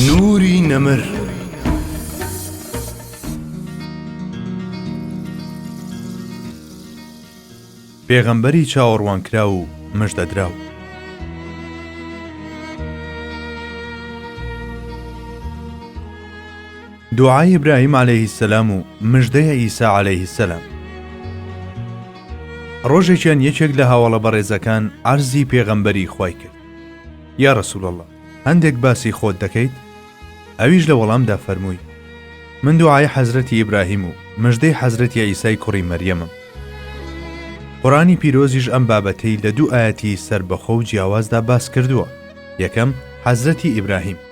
نوری نەمر پێغەمبەری چاوەڕوانکراو و مژدەدراو. دوعای ئیبراهیم عەلەیهی سەلام و مژدەی عیسا عەلەیهی سەلام. ڕۆژێکیان یەکێک لە هاوەڵە بەڕێزەکان عەرزی پێغەمبەری خوای کرد. یا رسول اللە هەندێک باسی خۆت دەکەیت؟ ئەویش لە وەڵامدا فەرمووی، من دوعای حەزرەتی ئیبراهیم و مژدەی حەزرەتی عیسای کوڕی مەریەمم. قورئانی پیرۆزیش ئەم بابەتەی لە دوو ئایەتی سەربەخۆ و جیاوازدا باسکردووە، یەکەم، حەزرەتی ئیبراهیم،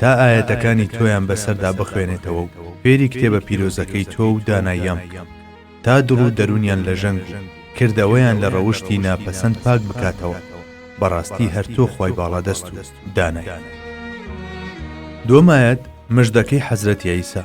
تا ئایەتەکانی تۆیان بەسەردا بخوێنێتەوە و فێری کتێبە پیرۆزەکەی تۆ و داناییان بکەم تا دڵ و دەروونیان لە ژەنگ و کردەوەیان لە ڕەوشتی ناپەسەند پاک بکاتەوە بەڕاستی هەر تۆ خوای باڵادەست و دانایت دووەم ئایەت مژدەکەی حەزرەتی عیسا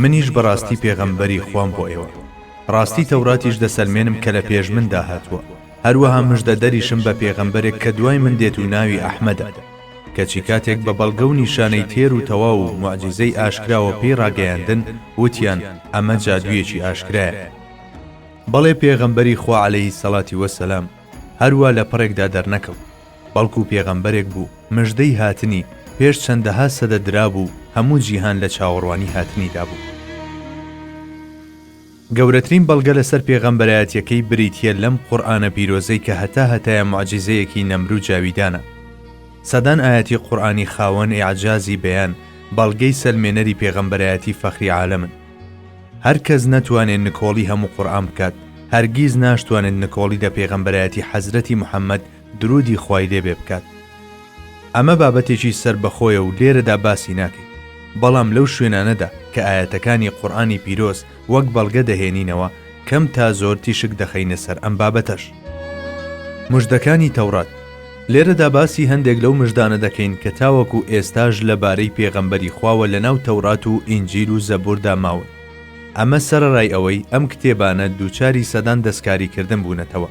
منیش بەڕاستی پێغەمبەری خوام بۆ ئێوە ڕاستی تەوراتیش دەسەلمێنم کە لە پێش مندا هاتووە هەروەها مژدەدەریشم بە پێغەمبەرێک کە دوای من دێت و ناوی ئەحمەدە کەچی کاتێک بە بەڵگە و نیشانەی تێر و تەواو و موعجیزەی ئاشکراوە پێی ڕاگەیاندن وتیان ئەمە جادوویەکی ئاشکرایە بەڵێ پێغەمبەری خوا عەلەیهی سەڵاتی وەسەلام هەروا لە پڕێکدا دەرنەکەوت. بەڵکو پێغەمبەرێک بوو مژدەی هاتنی پێش چەندەها سەدە درابوو و هەموو جیهان لە چاوەڕوانی هاتنیدا بوو. گەورەترین بەڵگە لەسەر پێغەمبەرایەتیەکەی بریتیە لەم قورئانە پیرۆزەی کە هەتا هەتایە موعجیزەیەکی نەمرو جاویدانە. سەدان ئایەتی قورئانی خاوەن ئیعجازی بەیان بەڵگەی سەلمێنەری پێغەمبەرایەتی فەخری عالەمن. هەر کەس نەتوانێ نکۆڵی هەموو قورئان بکات هەرگیز ناشتوانێت نکۆڵی لە پێغەمبەرایەتی حەزرەتی محەمەد دروودی خوای لێ بێ بکات. ئەمە بابەتێکی سەر بەخۆیە و لێرەدا باسی ناکەین، بەڵام لەو شوێنانەدا کە ئایەتەکانی قورئانی پیرۆز وەک بەڵگە دەهێنینەوە کەم تا زۆر تیشک دەخەینە سەر ئەم بابەتەش. مژدەکانی تەورات، لێرەدا باسی هەندێک لەو مژدانە دەکەین کە تاوەکو ئێستاش لە بارەی پێغەمبەری خواوە لە ناو تەورات و ئینجیل و زەبووردا ماون. ئەمە سەرەڕای ئەوەی ئەم کتێبانە دووچاری سەدان دەستکاریکردن بوونەتەوە.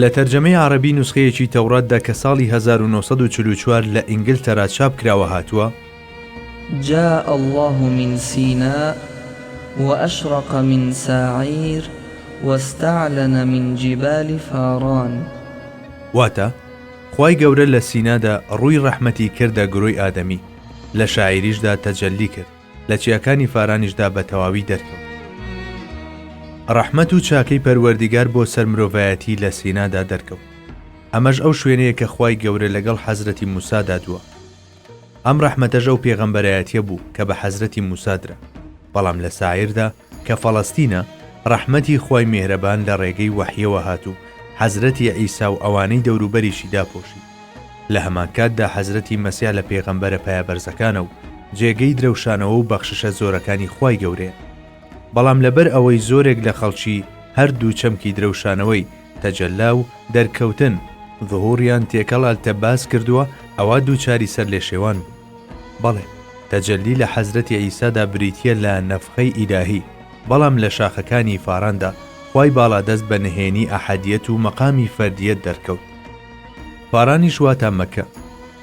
لە تەرجەمەی عەڕەبی نوسخەیەکی تەوڕاتدا کە ساڵی هەزار و نۆ سەد و چل و چوار لە ئینگلتەرا چاپ کراوە هاتووە. جاء اللە من سیناء واشرق من ساعیر واستعلن من جبال فاران. واتە، خوای گەورە لە سینادا ڕووی ڕەحمەتی کردە گرۆی ئادەمی، لە شاعیریشدا تەجەلی کرد. لە چیاکانی فارانیشدا بە تەواوی دەرکەوت. ڕەحمەت و چاکەی پەروەردیگار بۆ سەر مرۆڤایەتی لە سینادا دەرکەوت. ئەمەش ئەو شوێنەیە کە خوای گەورە لەگەڵ حەزرەتی موسادا دووا. ئەم ڕەحمەتەش ئەو پێغەمبەرایەتیە بوو کە بە حەزرەتی موسا درا. بەڵام لە ساعیردا کە فەڵەستینە، ڕەحمەتی خوای میهرەبان لە ڕێگەی وەحیەوە هات و حەزرەتی عیسا و ئەوانەی دەوروبەریشی داپۆشی. لە هەمان کاتدا حەزرەتی مەسیح لە پێغەمبەرە پایەبەرزەکانە و جێگەی درەوشانەوە و بەخششە زۆرەکانی خوای گەورەیە. بەڵام لەبەر ئەوەی زۆرێک لە خەڵکی هەر دوو چەمکی درەوشانەوەی، تجلی، و، دەرکەوتن، ظهور، یان تێکەڵ التە باس کردووە ئەوا دووچاری سەرلێشێوان بوون. بەڵێ، تەجەلی لە حەزرەتی عیسادا بریتییە لە نەفخەی ئیلاهی، بەڵام لە شاخەکانی فاراندا خوای باڵادەست بە نهێنی ئەحەدیەت و مەقامی فەردیەت دەرکەوت. پارانیش واتە مەکە.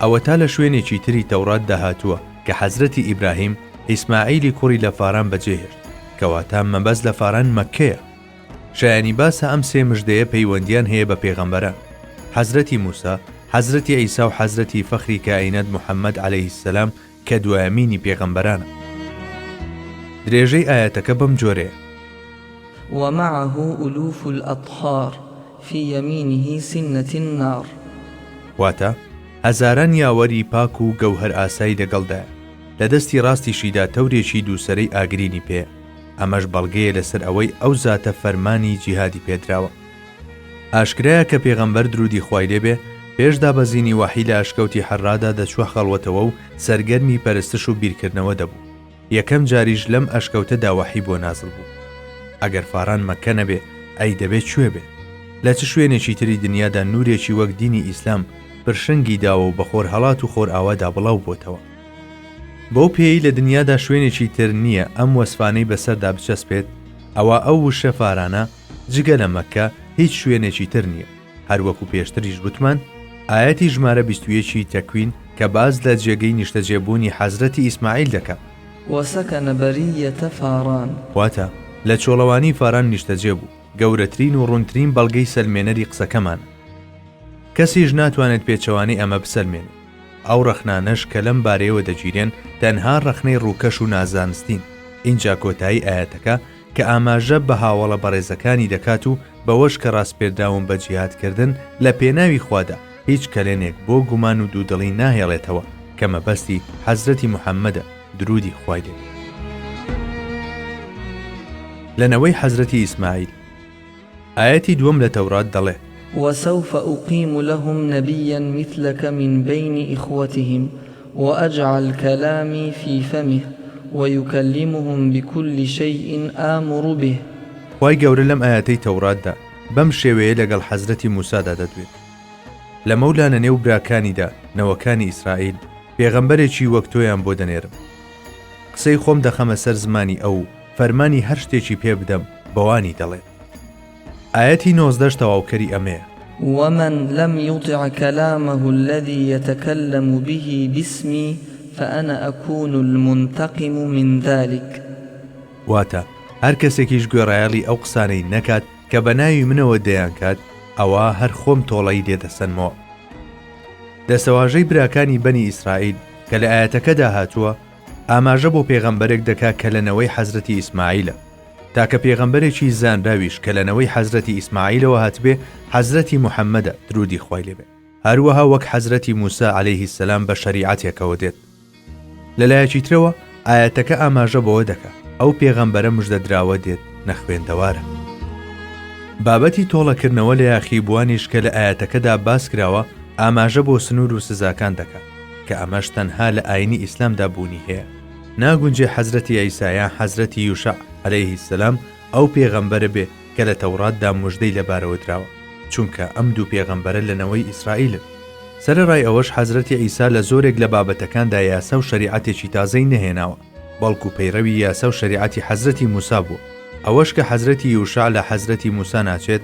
ئەوەتا لە شوێنێکی تری تەوراتدا هاتووە کە حەزرەتی ئیبراهیم ئیسماعیلی کوڕی لە فاران بەجێهێشت، کەواتە مەبەست لە فاران مەککەیە. شایانی باسە ئەم سێ مژدەیە پەیوەندییان هەیە بە پێغەمبەران، حەزرەتی موسی، حەزرەتی عیسا و حەزرەتی فەخری کائینات محەمەد عەلەیهی سەلام، کە دوایەمینی پێغەمبەرانە. درێژەی ئایەتەکە بەم جۆرەیە. ومعه الوف الاطهار فی یمینه سنة النار. واتە، هەزاران یاوەری پاک و گەوهەرئاسای لەگەڵدایە، لە دەستی ڕاستیشیدا تەورێکی دووسەرەی ئاگرینی پێیە، ئەمەش بەڵگەیە لەسەر ئەوەی ئەو زاتە فەرمانی جیهادی پێدراوە. ئاشکرایە کە پێغەمبەر دروودی خوای لێ بێ پێش دابەزینی وەحی لە ئەشکەوتی حەرادا دەچووە خەڵوەتەوە و سەرگەرمی پەرستش و بیرکردنەوە دەبوو یەکەم جاریش لەم ئەشکەوتە دا وەحی بۆ نازڵ بوو ئەگەر فاران مەککە نەبێ ئەی دەبێ کوێ بێ لە چ شوێنێکی تری دنیادا نوورێکی وەک دینی ئیسلام پرشنگی داوە و بە خۆرهەڵات و خۆرئاوادا بڵاو بۆتەوە بەو پێی لە دنیادا شوێنێکی تر نییە ئەم وەسفانەی بەسەردا بچەسپێت ئەوە ئەو وشە فارانە جگە لە مەککە هیچ شوێنێکی تر نییە، هەروەکو پێشتریش وتمان، ئایەتی ژمارە بیست و یەکی تەکوین کە باس لە جێگەی نیشتەجێ بوونی حەزرەتی ئیسماعیل دەکا. وسکن بریە فاران. واتە، لە چۆڵەوانی فاران نیشتەجێ بوو، گەورەترین و ڕوونترین بەڵگەی سەلمێنەری قسەکەمانە. کەسیش ناتوانێت پێچەوانەی ئەمە بسەلمێنێت. ئەو ڕەخنانەش کە لەم بارەیەوە دەگیرێن تەنها ڕەخنەی ڕووکەش و نازانستین. ئینجا کۆتایی ئایەتەکە، کە ئاماژە بە هاوەڵە بەڕێزەکانی دەکات و بەوەش کە ڕاسپێردراون بە جیهادکردن لە پێناوی خوادا هیچ کەلێنێک بۆ گومان و دوودڵی ناهێڵێتەوە کە مەبەستی حەزرەتی محەممەدە، درودی خوای لێ بێت. لە نەوەی حەزرەتی ئیسماعیل. ئایەتی دووەم لە تەورات دەڵێ. وسوف اقیم لهم نبیا مثلک من بین اخوتهم واجعل کلامی فی فمه ویکلمهم بکل شیء آمر به. خوای گەورە لەم ئایەتەی تەوراتدا بەم شێوەیە لەگەڵ حەزرەتی موسادا دەدوێت، لەمەولا لە نێو براکانیدا، نەوەکانی ئیسرائیل، پێغەمبەرێکی وەک تۆیان بۆ دەنێرم. قسەی خۆم دەخەمە سەر زمانی ئەو و، فەرمانی هەر شتێکی پێ بدەم بەوانی دەڵێت ئاەتی نۆزدەش تەواوکەری ئەمەیە. ومن لم یطع کلامه الذی یتکلم به باسمی فانا اکون المنتقم من ذلک. واتە، هەر کەسێکیش گوێڕایەڵی ئەو قسانەی نەکات کە بە ناوی منەوە دەیانکات ئەوا هەر خۆم تۆڵەی لێ دەسەنمەوە. دەستەواژەی براکانی بەنی ئیسرائیل کە لە ئایەتەکەدا هاتووە، ئاماژە بۆ پێغەمبەرێک دەکا کە لە نەوەی حەزرەتی ئیسماعیلە، تاکە پێغەمبەرێکی زانراویش کە لە نەوەی حەزرەتی ئیسماعیلەوە هاتبێ حەزرەتی محەممەدە، دروودی خوای لێ بێ. هەروەها وەک حەزرەتی مووسا عەلەیه السلام بە شەریعەتێکەوە دێت. لە لایەکی ترەوە ئایەتەکە ئاماژە بەوە دەکا ئەو پێغەمبەرە مژدەدراوە دێت نەخوێندەوارە. بابەتی تۆڵەکردنەوە لە یاخیبووانیش کە لە ئایەتەکەدا باس کراوە ئاماژە بۆ سنوور و سزاکان دەکا. کە ئەمەش تەنها لە ئاینی ئیسلامدا بوونی هەیە ناگونجێ حەزرەتی ئەیسایە حەزرەتی یوشع عليهەیهی السلام ئەو پێغەمبەرە بێ کە لە تەوڕاتدا مژدەی لەبارەوە دراوە چونکە ئەم دوو پێغەمبەرە لە نەوەی ئیسرائیلن سەرەڕای ئەوەش حەزرەتی ئەیسا لە زۆرێک لە بابەتەکاندا یاسا و شەریعەتێکی تازەی نەهێناوە بەڵکو پەیڕەوی یاسا و شەریعەتی حەزرەتی موسا بووە ئەوەش کە حەزرەتی یوشع لە حەزرەتی موسا ناچێت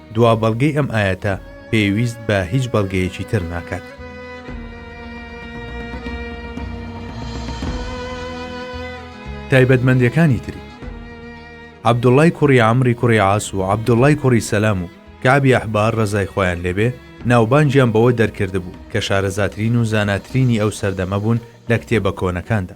دوا بەڵگەی ئەم ئایەتە پێویست بە هیچ بەڵگەیەکی تر ناکات. تایبەتمەندەکانی تری عبدوڵای کوڕی ئەمری کوڕی ئاس و عبدوڵای کوڕی سەلام و کابی ئەحبار ڕزای خۆیان لێبێ ناوبانجیان بەوە دەرکرد بوو کە شارەزاترین و زاناترینی ئەو سەردەمە بوون لە کتێبە کۆنەکاندا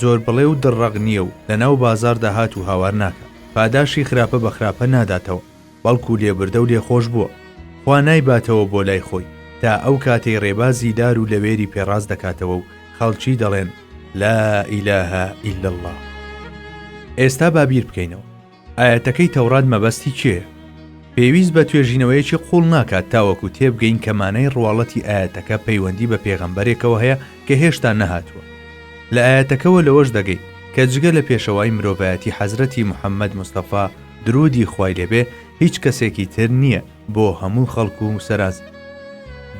زۆر بڵێ و دڕڕەق نییە و لە ناو بازاڕدا هات و هاوار ناکا، پاداشی خراپە بە خراپە ناداتەوە، بەڵکوو لێبردە و لێخۆش بووە، خوا نایباتەوە بۆ لای خۆی، تا ئەو کاتەی ڕێبازی دار و لەوێری پێ ڕاست دەکاتەوە و خەڵکی دەڵێن، لا ئیلاهە ئیلا اللە. ئێستا با بیر بکەینەوە. ئایەتەکەی تەورات مەبەستی کێیە؟ پێویست بە توێژینەوەیەکی قووڵ ناکات تاوەکو تێبگەین کە مانای ڕواڵەتی ئایەتەکە پەیوەندی بە پێغەمبەرێکەوە هەیە کە هێشتا نەهاتووە. لە ئایەتەکەوە لەوەش دەگەین کە جگە لە پێشەوای مرۆڤایەتی حەزرەتی محەممەد مستەفا دروودی خوای لێبێ هیچ کەسێکی تر نییە بۆ هەموو خەڵک و سەراز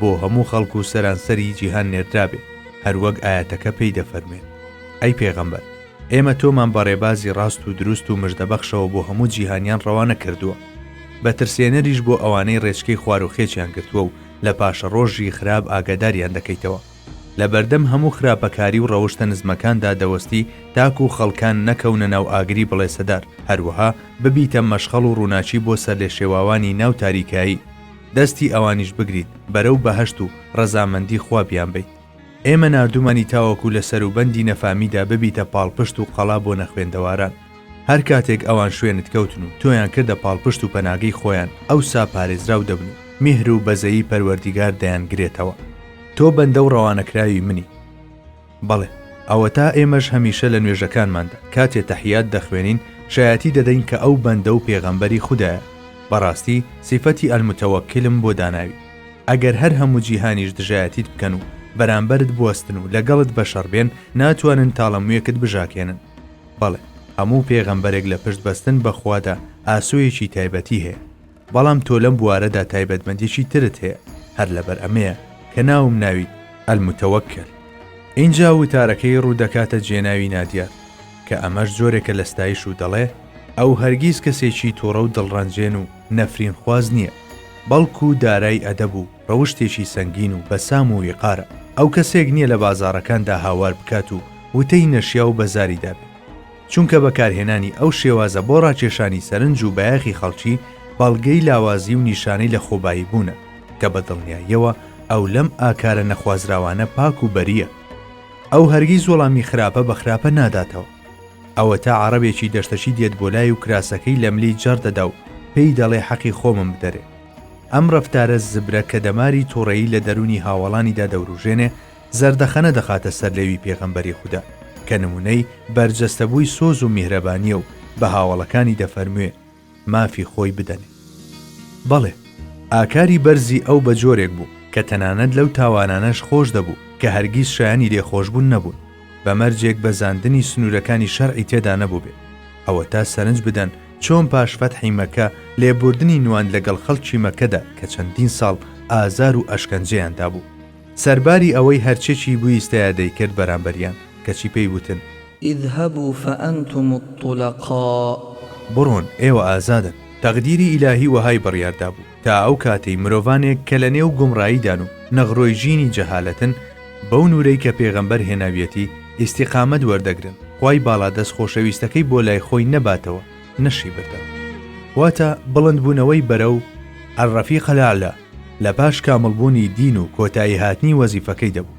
بۆ هەموو خەڵک و سەرانسەری جیهان نێردرابێ هەروەک ئایەتەکە پێی دەفەرموێت ئەی پێغەمبەر ئێمە تۆمان بە ڕێبازی ڕاست و دروست و مژدەبەخشەوە بۆ هەموو جیهانیان ڕەوانە کردووە، بە ترسێنەریش بۆ ئەوانەی ڕێچکەی خوار و خێچیان گرتووە و لە پاشەڕۆژی خراپ ئاگاداریان دەکەیتەوە. لەبەردەم هەموو خراپەکاری و ڕەوشتە نزمەکاندا دەوەستی تاکوو خەڵکان نەکەونە ناو ئاگری بڵێسەدار، هەروەها ببیتە مەشخەڵ و ڕووناکی بۆ سەرلێشێواوانی ناو تاریکایی، دەستی ئەوانیش بگریت بەرەو بەهەشت و ڕەزامەندی خوا بیانبەیت. ئێمە ناردومانی تاوەکو لە سەروبەندی نەفامیدا ببیتە پاڵپشت و قەڵا بۆ نەخوێندەواران. هەر کاتێک ئەوان شوێنت کەوتن و تۆیان کردە پاڵپشت و پەناگەی خۆیان، ئەوسا پارێزراو دەبن و میهر و بەزەیی پەروەردیگار دەیانگرێتەوە. تۆ بەندە و ڕەوانەکراوی منی. بەڵێ، ئەوەتا ئێمەش هەمیشە لە نوێژەکانماندا، کاتێ تەحیات دەخوێنین، شایەتی دەدەین کە ئەو بەندە و پێغەمبەری خودایە. بەڕاستی سیفەتی المتوکلم بۆ داناوی. ئەگەر هەر هەموو جیهانیش دژایەتیت بکەن و بەرامبەرت بوەستن و لەگەڵت بەشەڕ بێن ناتوانن تاڵە موێکت بژاکێنن بەڵێ هەموو پێغەمبەرێک لە پشت بەستن بە خوادا ئاسۆیەکی تایبەتی هەیە بەڵام تۆ لەم بوارەدا تایبەتمەندێکی ترت هەیە هەر لەبەر ئەمەیە کە ناوم ناویت المتوکل ئینجا وتارەکەی ڕوودەکاتە جێناوی نادیار کە ئەمەش جۆرێکە لە ستایش و دەڵێ، ئەو هەرگیز کەسێکی توڕە و دڵڕەنجێن و نەفرینخواز نییە، بەڵکو دارای ئەدەب و ڕەوشتێکی سەنگین و بەسام و ویقارە. ئەو کەسێک نییە لە بازاڕەکاندا هاوار بکات و وتەی نەشیاو بە زاریدا بێت. چونکە بەکارهێنانی ئەو شێوازە بۆ ڕاکێشانی سەرنج و بایەخی خەڵکی، بەڵگەی لاوازی و نیشانەی لەخۆبایی بوونە، کە بە دڵنیاییەوە ئەو لەم ئاکارە نەخوازراوانە پاک و بەرییە. ئەو هەرگیز وەڵامی خراپە بە خراپە ناداتەوە. ئەوەتا عەڕەبێکی دەشتەکی دێت بۆلای و کراسەکەی لەملی جەڕ دەدا و پێی دەڵێ حەقی خۆمم بدەرێ. ئەم ڕەفتارە زبرە کە دەماری توڕەیی لە دەروونی هاوەڵانیدا دەوروژێنێ، زەردەخەنە دەخاتە سەر لێوی پێغەمبەری خودا، کە نموونەی بەرجەستەبووی سۆز و میهرەبانییە و بە هاوەڵەکانی دەفەرموێ، مافی خۆی بدەنێ. بەڵێ، ئاکاری بەرزی ئەو بە جۆرێک بوو کە تەنانەت لەو تاوانانەش خۆش دەبوو کە هەرگیز شایەنی لێخۆشبوون نەبوون، بە مەرجێک بەزاندنی سنوورەکانی شەرعی تێدا نەبووبێ. ئەوەتا سەرنج بدەن چۆن پاش فەتحی مەککە لێبووردنی نواند لەگەڵ خەڵکی مەککەدا کە چەندین ساڵ ئازار و ئەشکەنجەیان دابوو، سەرباری ئەوەی هەرچێکی بویستایە دەیکرد بەرامبەریان، کەچی پێی وتن. اذهبوا فانتم الطلقاء. بڕۆن، ئێوە ئازادن. تەقدیری ئیلاهی وەهای بڕیاردابوو، تا ئەو کاتەی مرۆڤانێک کە لەنێو گومڕاییدان و نغرۆی ژینی جەهالەتن، بەو نوورەی کە پێغەمبەر هێناویەتی، ئیستیقامەت وەردەگرن، خوای باڵا دەست خۆشەویستەکەی بۆ لای خۆی نەباتەوە، نەشیبردەوە. واتە، بڵندبوونەوەی بەرەو، الرفیق الاعلی. لە پاش کامڵ بوونی دین و کۆتایی هاتنی وەزیفەکەی دەبوو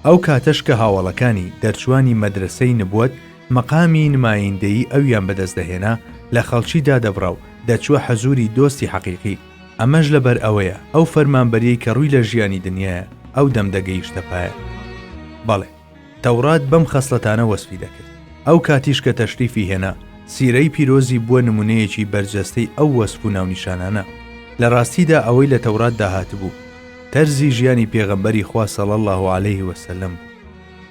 ئەو کاتەش کە هاوەڵەکانی دەرچووانی مەدرەسەی نبوەت مەقامی نمایندەیی ئەویان بەدەست دەهێنا لە خەڵکی دادەبڕا و دەچووە حەزووری دۆستی حەقیقی ئەمەش لە بەر ئەوەیە ئەو فەرمانبەریەی کە ڕووی لە ژیانی دنیایە ئەو دەم دەگەیشتە پایە بەڵێ تەوڕات بەم خەسڵەتانە وەسفی دەکرد ئەو کاتیش کە تەشریفی هێنا سیرەی پیرۆزی بووە نمونەیەکی بەرجەستەی ئەو وەسف و ناونیشانانە لە ڕاستیدا ئەوەی لە تەورات داهاتبوو تەرزی ژیانی پێغەمبەری خوا سەڵ الله عليه وسلم بوو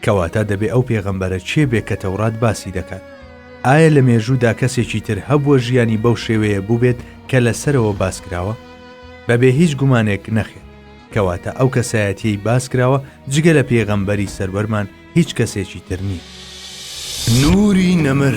کەواتە دەبێ ئەو پێغەمبەرە چێ بێ کە تەورات باسی دەکات ئایا لە مێژوودا کەسێکی تر هەبووە ژیانی بەو شێوەیە بووبێت کە لەسەرەوە باسکراوە بەبێ هیچ گومانێک نەخێت کەواتە ئەو کەسایەتیەی باس کراوە جگە لە پێغەمبەری سەروەرمان هیچ کەسێکی تر نییە. نوری نەمر.